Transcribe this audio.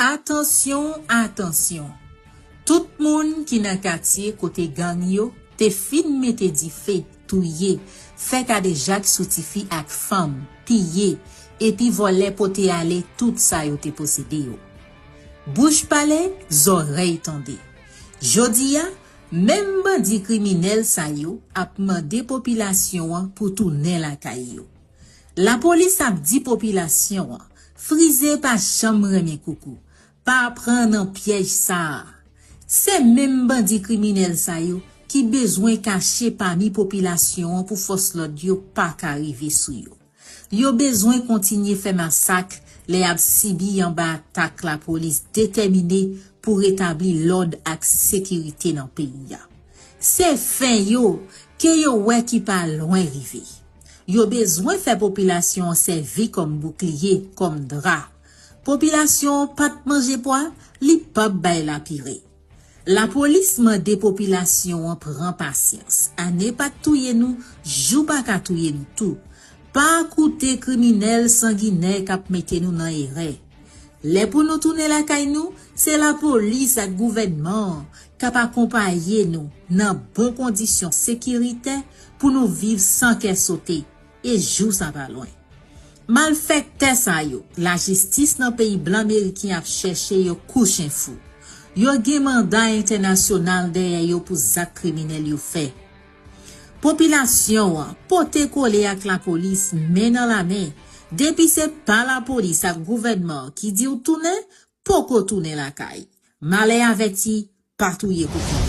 Atansyon, atansyon! Tout moun ki nan katye kote gang yo te fin mete dife, touye, fè kadejak sou tifi ak fanm, piye, epi vòlè pote ale tout sa yo te posede yo. Bouch pale, zòrèy tande. Jodi a, menm bandi kriminèl sa yo ap mande popilasyon an pou tounen lakay yo. Lapolis ap di popilasyon an, frize pa janm renmen koukou, pa pran nan pyèj sa a. Se menm bandi kriminèl sa yo ki bezwen kache pami popilasyon an pou fòs lòd yo pa ka rive sou yo. Yo bezwen kontinye fè masak lè y ap sibi anba atak lapolis detèmine pou retabli lòd ak sekirite nan peyi a. Se fen yo ke yo wè ki pa lwen rive. Yo bezwen fè popilasyon an sèvi kòm boukliye, kòm dra. Popilasyon an pa t manje pwa, li p ap bay lapire. Lapolis mande popilasyon an pran pasyans. Ane pa t touye nou, jou pa ka touye nou tou. Pa koute kriminèl sanginè k ap mete nou nan erè. Lè pou nou tounen lakay nou, se lapolis ak gouvènman an k ap akonpaye nou nan bon kondisyon sekiritè, pou nou viv san kè sote e jou sa pa lwen. Malfèktè sa yo, lajistis nan peyi blan meriken ap chèche yo kou chen fou. Yo gen manda entènasyonal dèyè yo pou zak kriminèl yo fè. Popilasyon an, pote kole ak lapolis, men nan lamen, depi se pa lapolis ak gouvènman an ki di w tounen, poko tounen lakay. Malè avèti, pa touye kou kòn.